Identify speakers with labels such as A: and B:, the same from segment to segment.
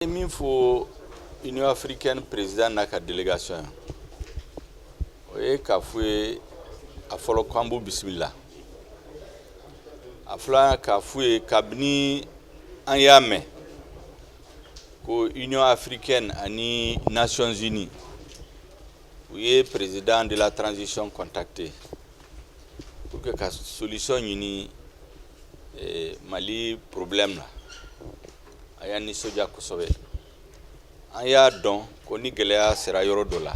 A: ye min fɔ union africaine président n'a ka délégation ye o ye k'a fɔ u ye a fɔlɔ ko an b'u bisimila a filanan k'a fɔ u ye kabini an y'a mɛn ko union africaine ani nations unies u ye président de la transition contacté pour que ka solution ɲini eh, mali problème la a y'an nisɔndiya kosɛbɛ an y'a dɔn ko ni gɛlɛya sera yɔrɔ dɔ la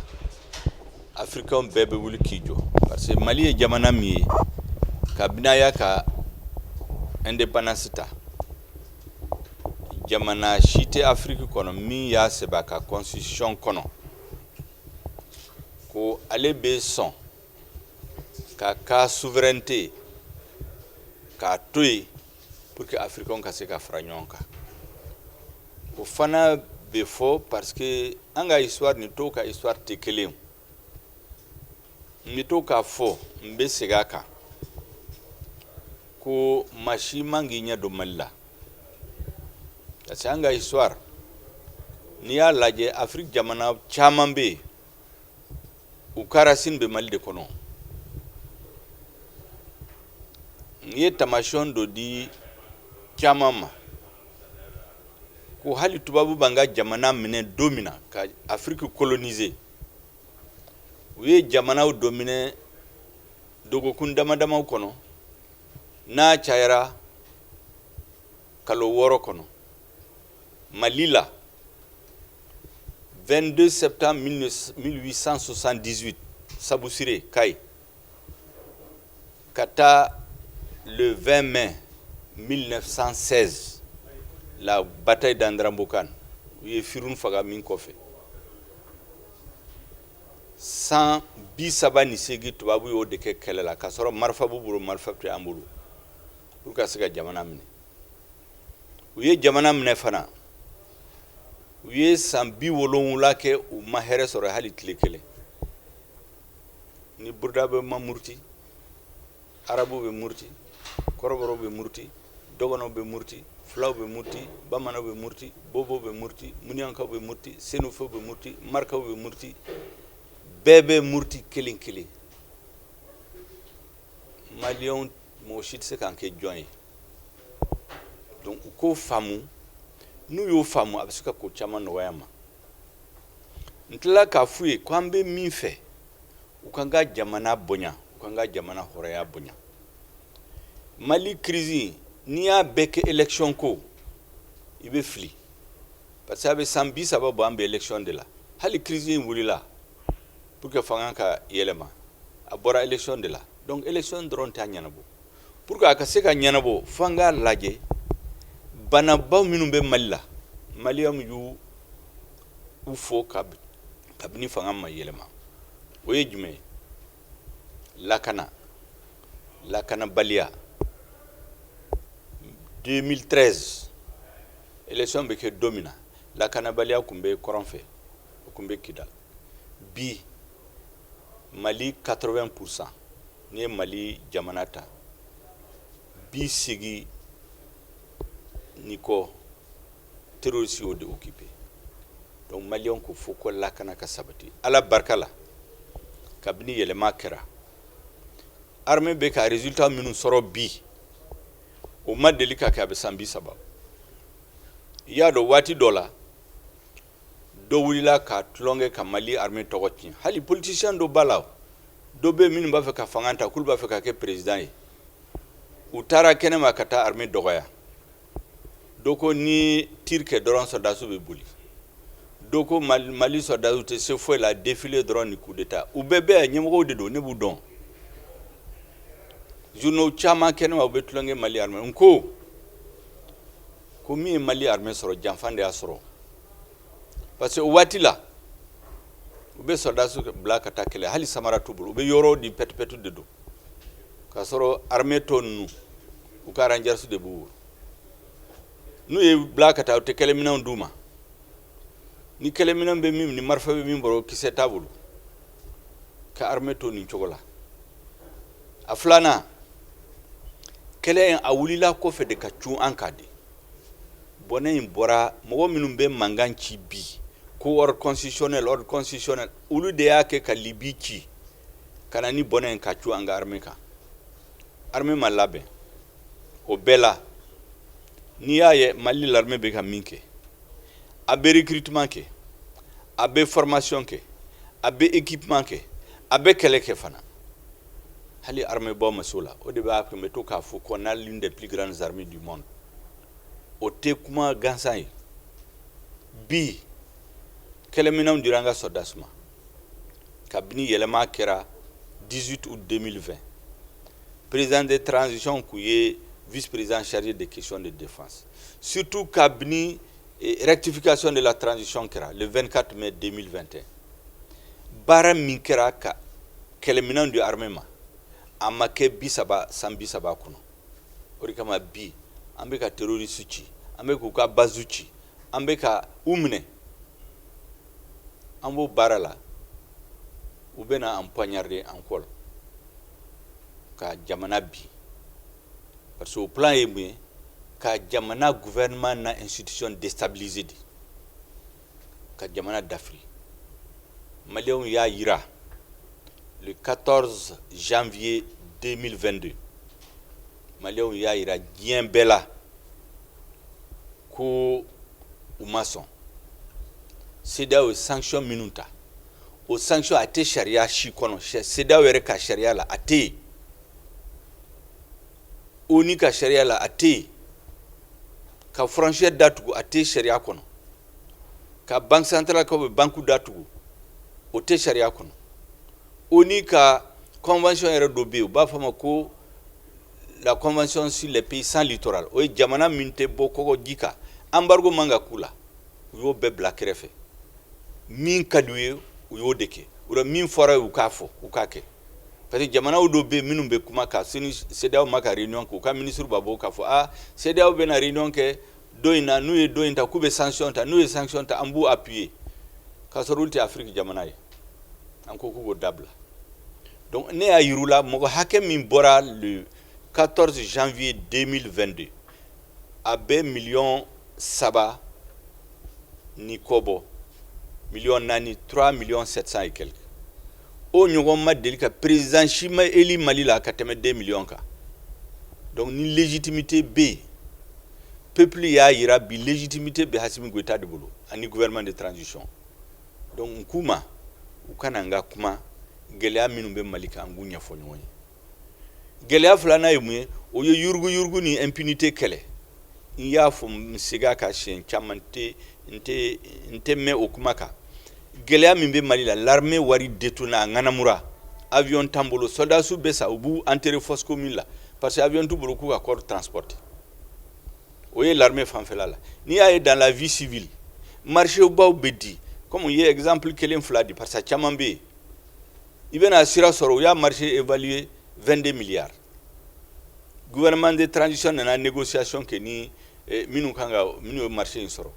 A: afirikɛnw bɛɛ bɛ wuli k'i jɔ parce que mali ye jamana min ye kabini a y'a ka indépendance ta jamana si tɛ afiriki kɔnɔ min y'a sɛbɛn a ka constitution kɔnɔ ko ale bɛ sɔn k'a ka souveraineté k'a to yen pour que africains ka se ka fara ɲɔgɔn kan o fana bɛ fɔ parce que an ka histoire ni tɔw ka histoire tɛ kelen n bɛ to k'a fɔ n bɛ segin a kan ko maa si man k'i ɲɛ don mali la parce que an ka histoire n'i y'a lajɛ afiriki jamana caman bɛ yen u ka racine bɛ mali de kɔnɔ n ye tamasiyɔn dɔ di caman ma ko hali tubabu b'an ka jamana minɛ don min na ka afiriki coloniser u ye jamanaw dɔ minɛ dɔgɔkun dama damaw kɔnɔ n'a cayara kalo wɔɔrɔ kɔnɔ Mali la 22 septembre 1878 Sabouciré, Kayes ka taa le 20 mai 1916 la bataille d'Andéramboukane u ye Firhoun faga min kɔfɛ san bi saba ni seegin tubabu y'o de kɛ kɛlɛ la k'a sɔrɔ marifa b'u bolo marifa tɛ an bolo pour ka se ka jamana minɛ u ye jamana minɛ fana u ye san bi wolowula kɛ u ma hɛrɛ sɔrɔ hali tile kelen ni burudamɛ ma muruti arabu bɛ muruti kɔrɔbɔrɔw bɛ muruti dɔgɔnɔw bɛ muruti fulaw bɛ muruti bamananw bɛ muruti bobow bɛ muruti muniyankaw bɛ muruti senufow bɛ muruti marakaw bɛ muruti bɛɛ bɛ muruti kelen kelen maliyɛnw mɔgɔ si tɛ se k'an kɛ jɔn ye donc u k'o faamu n'u y'o faamu a bɛ se ka ko caman nɔgɔya ma n tilala k'a f'u ye ko an bɛ min fɛ u k'an ka jamana bonya u k'an ka jamana hɔrɔnya bonya mali kirisi n'i y'a bɛɛ kɛ élection ko i bɛ fili parce que a bɛ san bi saba bɔ an bɛ élection de la hali kirisi in wulila Pour que fanga ka yɛlɛma a bɔra élection de la donc élection dɔrɔn t'a ɲɛnabɔ pour que a ka se ka ɲɛnabɔ fo an k'a lajɛ banabaw minnu bɛ Mali la maliyɛnw y'u fɔ kabini fanga ma yɛlɛma o ye jumɛn ye lakana lakanabaliya 2013 élection bɛ kɛ don min na lakanabaliya tun bɛ kɔrɔn fɛ o tun bɛ kidali bi mali 80 pourcent n'i ye mali jamana ta bi segin ni kɔ terroriste y'o de occuper donc maliyɛnw ko fo ko lakana ka sabati ala barika la kabini yɛlɛma kɛra armée bɛ ka résultat minnu sɔrɔ bi o ma deli ka kɛ a bɛ san bi saba i y'a dɔn waati dɔ la dɔ wulila ka tulonkɛ ka mali armée tɔgɔ tiɲɛ hali politicien dɔ b'a la dɔ bɛ minnu b'a fɛ ka fanga ta k'olu b'a fɛ ka kɛ président ye u taara kɛnɛma ka taa armée dɔgɔya dɔ ko ni tir kɛ dɔrɔn sɔrɔdasiw bɛ boli dɔ ko mali sɔrɔdasiw tɛ se foyi la défilé dɔrɔn ni coup d'état u bɛɛ bɛɛ ɲɛmɔgɔw de don ne b'u dɔn journaux caman kɛnɛma u bɛ tulonkɛ mali armée n ko ko min ye mali armée sɔrɔ janfa de y'a sɔrɔ parce que o waati la u bɛ sɔrɔdasi bila ka taa kɛlɛ hali samara t'u bolo u bɛ yɔrɔ de pɛtupɛtu de don k'a sɔrɔ armée tɔ ninnu u ka rangers de b'u bolo n'u y'u bila ka taa u tɛ kɛlɛminɛnw d'u ma ni kɛlɛminɛn bɛ min ni marifa bɛ min bolo kisɛ t'a bolo ka armée to nin cogo la a filanan kɛlɛ in a wulila kɔfɛ de ka cun an kan de bɔnɛ in bɔra mɔgɔ minnu bɛ mankan ci bi ko ordre constitutionnel ordre constitutionnel olu de y'a kɛ ka Libi ci ka na ni bɔnɛ in ka cun an ka armée kan armée ma labɛn o bɛɛ la n'i y'a ye mali l'armée bɛ ka min kɛ a bɛ recrutement kɛ a bɛ formation kɛ a bɛ équipement kɛ a bɛ kɛlɛ kɛ fana hali arméebaw ma se o la o de b'a kɛ n bɛ to k'a fɔ qu'on a l'une des plus grandes armées du monde o tɛ kuma gansan ye bi kɛlɛminɛnw dira an ka sɔrɔdasiw ma kabini yɛlɛma kɛra 18 août 2020 président de transition tun ye vice président chargé des questions de défense surtout kabini eh, rectification de la transition kɛra le 24 mai 2021 baara min kɛra ka kɛlɛminɛn di armée ma a ma kɛ bi saba san bi saba kɔnɔ o de kama bi an bɛ ka terroriste ci an bɛ k'u ka base ci an bɛ ka u minɛ an b'o baara la u bɛna an poignarder an kɔ la ka jamana bin parce que o plan ye mun ye ka jamana gouvernement na institution déstabiliser de ka jamana dafiri maliyɛnw y'a yira le 14 janvier 2022 maliyɛnw y'a yira diɲɛ bɛɛ la ko u ma sɔn CEDEAO ye sanction minnu ta o sanction a tɛ sariya si kɔnɔ CEDEAO yɛrɛ ka sariya la a tɛ yen ONU ka sariya la a tɛ yen ka frontière datugu a tɛ sariya kɔnɔ ka banque centrale ka banque datugu o tɛ sariya kɔnɔ ONU ka convention yɛrɛ dɔ bɛ yen u b'a fɔ a ma ko la convention sur les pays sans littoral o ye jamana min tɛ bɔ kɔgɔji kan embargo man ka k'u la u y'o bɛɛ bila kɛrɛfɛ min ka di u ye u y'o de kɛ o la min fɔra u ye u k'a fɔ u k'a kɛ parce que jamanaw dɔw bɛ yen minnu bɛ kuma ka CEDEAO ma ka réunion kɛ u ka ministre b'a bɔ k'a fɔ aa CEDEAO bɛna réunion kɛ don in na n'u ye don in ta k'u bɛ sanction ta n'u ye sanction ta an b'u appuyer k'a sɔrɔ olu tɛ Afrique jamana ye an ko k'u k'o dabila Donc ne y'a yir'u la mɔgɔ hakɛ min bɔra le 14 janvier 2022 a bɛ million saba ni kɔ bɔ million naani 3 millions 700 et quelques o ɲɔgɔn ma deli ka président si ma élu Mali la ka tɛmɛ 2 millions kan donc ni légitimité bɛ yen peuple y'a yira bi légitimité bɛ Assimi Goïta de bolo ani gouvernement de transition Donc n k'u ma u ka na an ka kuma gɛlɛya minnu bɛ Mali kan an k'u ɲɛfɔ ɲɔgɔn ye gɛlɛya filanan ye mun ye o ye yurugu yurugu ni impunité kɛlɛ n y'a fɔ n segin a kan siyɛn caman n tɛ mɛn o kuma kan gɛlɛya min bɛ Mali la l'armée wari détourné a ŋanamura avion t'an bolo sɔrɔdasiw bɛ sa u b'u enterrer fosse commune la parce que avion t'u bolo k'u ka corps transporter o ye laremɛ fanfɛla la n'i y'a ye dan la vi sibi marisiwbaw bɛ di kɔmi ye zanalipli kelen fila de pasa caman bɛ yen i bɛna sira sɔrɔ u y'a marisi e'li ye vde miya guɛman de tranzsi nana nikisɛc kɛ ni minnu kan kan minnu ye marisi in sɔrɔ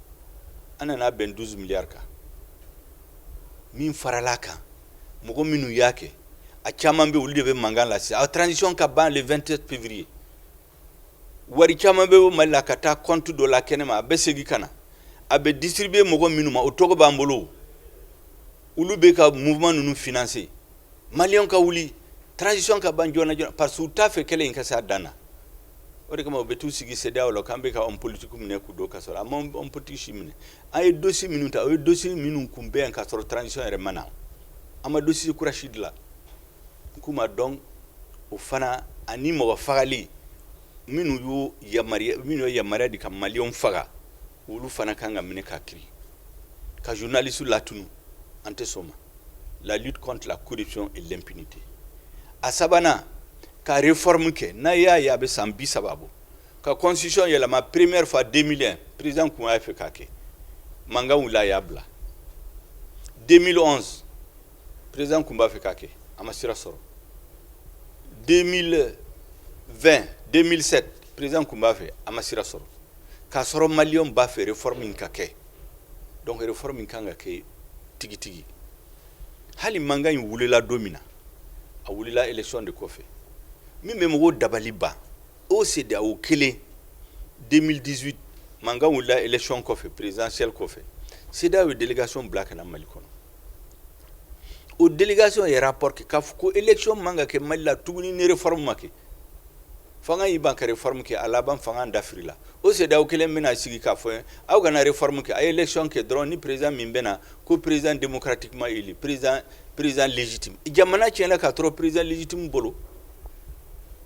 A: an nana bɛn dusu miya kan min farala kan mɔgɔ minnu y'a kɛ a caman bɛ olu de bɛ mankan lase a tranzsi ka ban 2te pepbiri ye wari caman bɛ bɔ mali la ka taa compte dɔ la kɛnɛma a bɛ segin ka na a bɛ distribuer mɔgɔ minnu ma o tɔgɔ b'an bolo olu bɛ ka mouvement ninnu financer maliyɛnw ka wuli transition ka ban joona joona parce que u t'a fɛ kɛlɛ in ka se a dan na o de kama u bɛ taa u sigi CEDEAO la k'an bɛ ka homme politique minɛ k'u don kaso la an ma homme politique si minɛ an ye dossier minnu ta o ye dossier minnu tun bɛ yen ka sɔrɔ transition yɛrɛ ma na an ma dossier kura si dilan K'u ma donc o fana ani mɔgɔ fagali minnu y'u yamaruya minnu ye yamaruya di ka maliyɛnw faga olu fana kan ka minɛ ka kiri ka journaliste latunu an tɛ sɔn ma la lutte contre la corruption et l'impunité a sabanan ka réforme kɛ n'a y'a ye a bɛ san bi saba bɔ ka constitution yɛlɛma première fois 2001 président kun y'a fɛ k'a kɛ mankan wulila a y'a bila 2011 président tun b'a fɛ k'a kɛ a ma sira sɔrɔ 2017 président tun b'a fɛ a ma sira sɔrɔ k'a sɔrɔ maliyɛnw b'a fɛ réforme in ka kɛ donc réforme in kan ka kɛ tigitigi hali mankan in wulila don min na a wulila élection de kɔfɛ min bɛ mɔgɔw dabali ban o CEDEAO kelen 2018 mankan wulila élection kɔfɛ présidentielle kɔfɛ CEDEAO ye délégation bila ka na mali kɔnɔ o delikasi yɛrɛ porote k'a fɔ ko ec man ka kɛ mali la tuguni nire fari ma kɛ fanga y'i ban kɛrare famu kɛ a laban fanga dafiri la o seda kelen bɛna sigi ka fɔ ye aw kare famu kɛ a ye lecɔn kɛ dɔrɔn ni perez min bɛ na ko perezd karatima perez perezjiti jamana tiɲɛna k'a sɔrɔ perezjiti bolo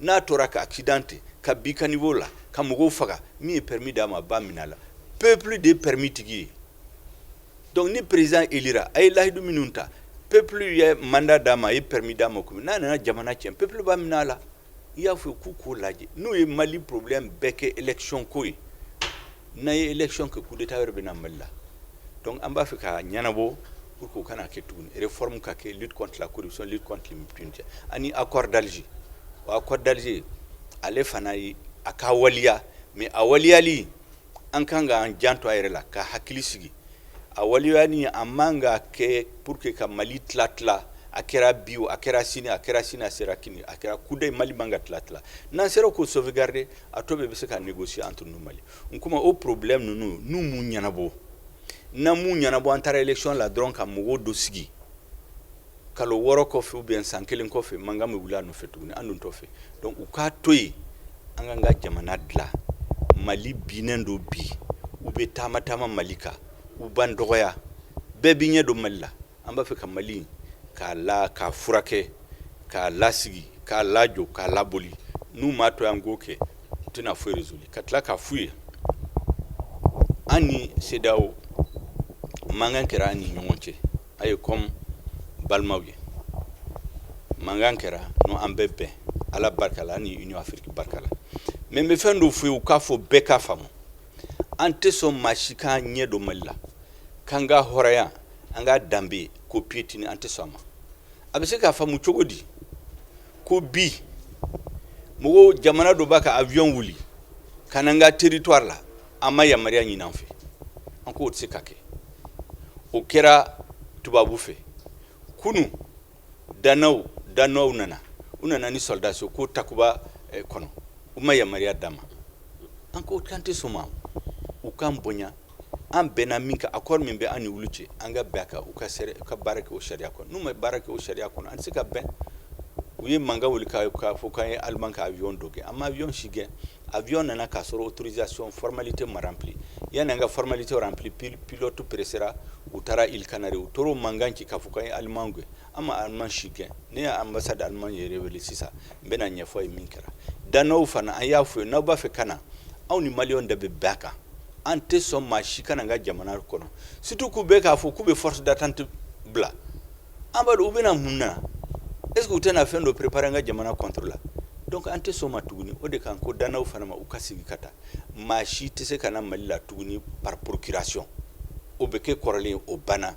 A: n'a tora ka accidenter ka bin caniveau la ka mɔgɔw faga min ye permis d'a ma a b'a minɛ a la peuple de ye permis tigi ye donc ni président élira a ye lahidu minnu ta peuple ye mandat d'a ma a ye permis d'a ma komi n'a nana jamana tiɲɛ peuple b'a minɛ a la i y'a fɔ k'u k'o lajɛ n'u ye mali problème bɛɛ kɛ élection ko ye n'a ye élection kɛ coup d'état wɛrɛ bɛ na mali la donc an b'a fɛ ka ɲɛnabɔ pour que o kana kɛ tuguni réforme ka kɛ lutte contre la corruption lutte contre l'impunité ani accord d'alger o accord d'alger ale fana ye a ka waliya mais a waliyali an kan k'an janto an yɛrɛ la ka hakili sigi a waliyani a man ka kɛ pour que ka mali tila tila a kɛra bi o a kɛra sini a kɛra sini a sera kini a kɛra kudayi mali man ka tila tila n'an sera k'o sauvegarder a tɔ bɛɛ bɛ se ka négocier entre nous mali n kuma o problème ninnu n'u m'u ɲɛnabɔ n'an m'u ɲɛnabɔ an taara élection la dɔrɔn ka mɔgɔ dɔ sigi kalo wɔɔrɔ kɔfɛ ou bien san kelen kɔfɛ mankan bɛ wili a nɔfɛ tuguni an dun t'o fɛ donc u k'a to yen an k'an ka jamana dilan mali binnen don bi u bɛ taama taama mali kan u b'an dɔgɔya bɛɛ b'i ɲɛ don mali la An b'a fɛ ka Mali in k'a la k'a furakɛ k'a lasigi k'a lajɔ k'a laboli n'u m'a to yan k'o kɛ u tɛna foyi résoudre ka tila k'a f'u ye an ni CEDEAO mankan kɛra an ni ɲɔgɔn cɛ a ye comme balimaw ye mankan kɛra n'o an bɛ bɛn Ala barika la an ni Union Afrique barika la mais n bɛ fɛn dɔ f'u ye u k'a fɔ bɛɛ k'a faamu an tɛ sɔn maa si k'a ɲɛ don Mali la k'an ka hɔrɔnya an ka danbe ko piétiner an tɛ sɔn a ma a bɛ se k'a faamu cogo di ko bi mɔgɔw jamana dɔ b'a ka avion wuli ka na an ka territoire la a ma yamaruya ɲini an fɛ an k'o tɛ se ka kɛ o kɛra tubabu fɛ kunu danois danois nana u nana ni sɔrɔdasi ko takuba eh, kɔnɔ u ma yamaruya d'a ma an ko k'an tɛ sɔn a ma u k'an bonya an bɛnna min kan accord min bɛ an ni olu cɛ an ka bɛn a kan u ka baara kɛ o sariya kɔnɔ n'u ma baara kɛ o sariya kɔnɔ an tɛ se ka bɛn u ye mankan wuli k'a fɔ k'an ye allemand ka avion dɔ gɛn an ma avion si gɛn avion nana k'a sɔrɔ autorisation formalité ma rempli yanni an ka formalité rempli pilote pressera u taara îles Canaries u tor'o mankan ci k'a fɔ k'an ye allemand gɛn an ma allemand si gɛn ne ye ambassade allemand yɛrɛ wele sisan n bɛna a ɲɛfɔ a ye min kɛra danois fana an y'a f'u ye n'aw b'a fɛ ka na aw ni mali de bɛ bɛn a kan an tɛ sɔn maa si ka na an ka jamana kɔnɔ surtout k'u bɛ k'a fɔ k'u bɛ force d'attente bila an b'a dɔn u bɛna mun na est-ce que u tɛna fɛn dɔ préparer an ka jamana contre la donc an tɛ sɔn a ma tuguni o de kan ko danois fana ma u ka segin ka taa maa si tɛ se ka na mali la tuguni par procuration o bɛ kɛ kɔrɔlen o banna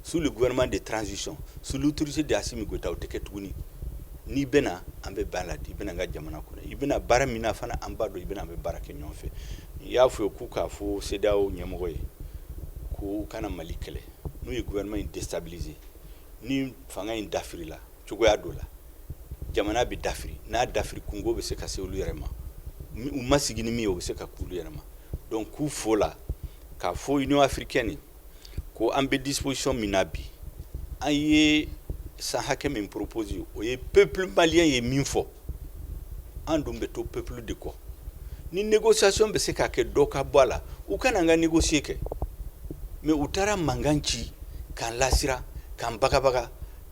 A: Sous le gouvernement de transition sous l'autorité de Assimi Goïta o tɛ kɛ tuguni n'i bɛna an bɛ bɛn a la i bɛna an ka jamana kɔnɔ i bɛna baara min na fana an b'a dɔn i bɛna an bɛ baara kɛ ɲɔgɔn fɛ i y'a f'u ye k'u k'a fɔ CEDEAO ɲɛmɔgɔ ye k'u kana mali kɛlɛ n'u ye gouvernement in déstabiliser ni fanga in dafirila cogoya dɔ la jamana bɛ dafiri n'a dafiri kunko bɛ se ka se olu yɛrɛ ma u ma sigi ni min ye o bɛ se ka k'u yɛrɛ ma donc k'u fo la k'a fɔ Union africaine ko an bɛ disposition min na bi an ye san hakɛ min proposer o ye peuple malien ye min fɔ an dun bɛ to peuple de kɔ ni négociation bɛ se ka kɛ dɔ ka bɔ a la u ka na an ka négocier kɛ mais u taara mankan ci k'an lasiran k'an bagabaga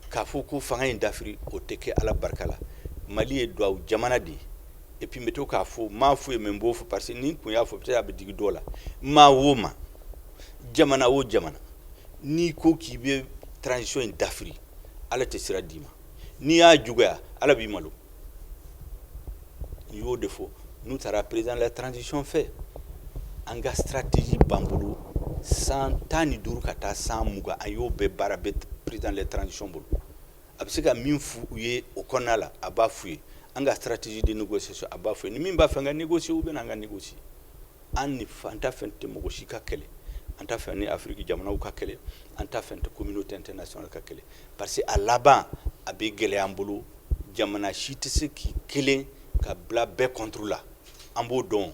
A: k'a fɔ ko fanga in dafiri o tɛ kɛ ala barika la mali ye duwawu jamana de ye et puis n bɛ to k'a fɔ n m'a fɔ yen mais n b'o fɔ parce que ni n kun y'a fɔ peut-être a bɛ digi dɔ la maa o maa jamana o jamana n'i ko k'i bɛ transition in dafiri ala tɛ sira d'i ma n'i y'a juguya ala b'i malo n y'o de fɔ n'u taara président de la transition fɛ an ka stratégie b'an bolo san tan ni duuru ka taa san mugan an y'o bɛɛ baara bɛ président de la transition bolo a bɛ se ka min fɔ u ye o kɔnɔna la a b'a f'u ye an ka stratégie de négociation a b'a f'u ye ni min b'a fɛ an ka négocier u bɛ na an ka négocier an ni an t'a fɛ an tɛ mɔgɔ si ka kɛlɛ an t'a fɛ an ni afiriki jamanaw ka kɛlɛ an t'a fɛ an tɛ communauté internationale ka kɛlɛ parce que a laban a bɛ gɛlɛya an bolo jamana si tɛ se k'i kelen ka bila bɛɛ contre la an b'o dɔn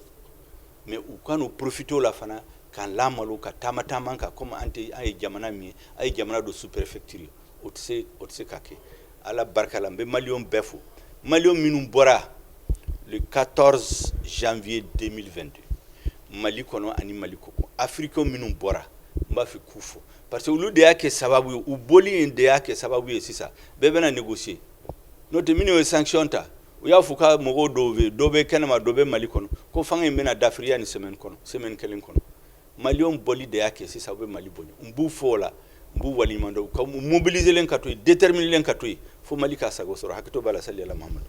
A: mais u kan'u profiter o la fana k'an lamalo ka taama taama an kan kɔmi an tɛ an ye jamana min ye an ye jamana dɔ sous-préfecture o tɛ o tɛ se ka kɛ ala barika la n bɛ maliyɛnw bɛɛ fo maliyɛnw minnu bɔra le 14 janvier 2022 mali kɔnɔ ani mali kɔkan africains minnu bɔra n b'a fɛ k'u fo parce que olu de y'a kɛ sababu ye u bɔli in de y'a kɛ sababu ye sisan bɛɛ bɛna négocier n'o tɛ minnu ye sanction ta u y'a fɔ ka mɔgɔw dɔw bɛ dɔ bɛ kɛnɛma dɔ bɛ mali kɔnɔ ko fanga in bɛna dafiri yanni semaine kɔnɔ semaine kelen kɔnɔ maliyɛnw bɔli de y'a kɛ sisan u bɛ mali bonya n b'u fo o la n b'u waleɲumandɔn k'u mobiliser len ka to yen déterminer len ka to yen fo mali k'a sago sɔrɔ hakɛto b'a la sali ala mahamadu